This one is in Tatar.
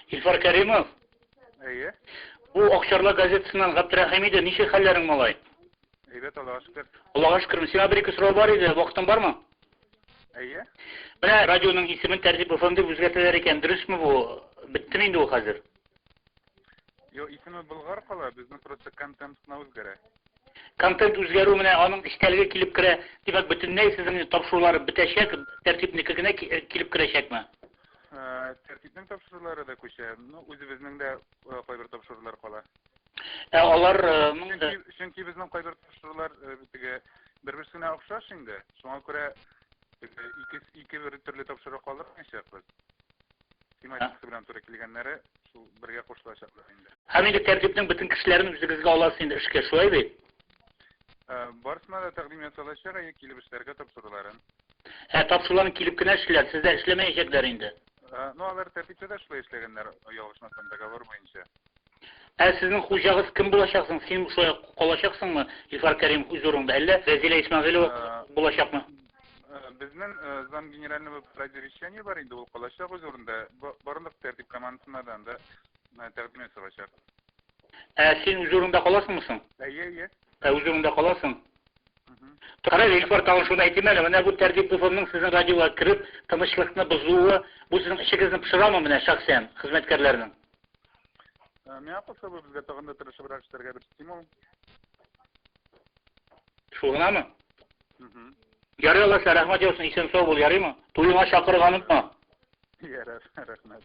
Илфар Кәримов? Әйе. Бу Акчарлы газетасыннан Габдрәхим иде. Ничә хәлләрең малай? Әйбәт Аллага шөкер. Аллага шөкер. Сиңа бер ике сорау бар иде. Вакытың бармы? Әйе. Менә радионың исемен Тәртип FM дип үзгәртәләр икән. Дөресме бу? Беттеме инде ул хәзер? Йо, исеме Болгар кала, безнең просто контент кына үзгәрә. Контент үзгәрү менә аның эчтәлеге килеп керә. Димәк, бөтенләй сезнең тапшырулар бетәчәк, тәртипнеке генә килеп керәчәкме? Ә, тәртипнең тапшырулары да күчә. Ну, үзебезнең дә э, кайбер тапшырулар кала. Ә алар э, чөнки, чөнки безнең кайбер тапшырулар э, теге бер-берсенә охшаш инде. Шуңа күрә ике ике бер төрле тапшыру калдырмыйчакбыз. Тематикасы белән туры килгәннәре шул бергә кушылачаклар инде. Һәм инде тәртипнең бөтен кешеләрен үзегезгә аласыз инде эшкә, шулай бит? Ә, барысына да тәкъдим ясалачак, әйе, килеп эшләргә тапшыруларын. Ә тапшыруларны килеп кенә эшлиләр, сездә эшләмәячәкләр инде. Ә, ну алар тәртиптә дә шулай эшләгәннәр, ялгышмасам, договор буенча. Ә сезнең хуҗагыз кем булачак соң? Син шулай ук калачаксыңмы, Илфар Кәримов, үз урыныңда, әллә Рәзилә Исмәгыйлова булачакмы? Безнең замгенеральный булып Радий Вещание бар инде, ул калачак үз урынында. Барлык тәртип командасына да анда тәкъдим ясалачак. Ә син үз урыныңда каласыңмы соң? Әйе, әйе. Ә үз урыныңда каласың? Кара, Илфар, тагын шуны әйтим әле, менә бу тәртип БФМның сезнең радиога кереп, тынычлыкны бозуы, бу сезнең эчегезне пошырамы менә шәхсән, хезмәткәрләрнең? Э, миңа кушып безгә тагын да тырышыбрак эшләргә бер стимул. Шул гынамы? Ярый алла сә рәхмәт яусын, исән сау бул, ярыймы? Туеңа чакырырга онытма. Ярар, рәхмәт.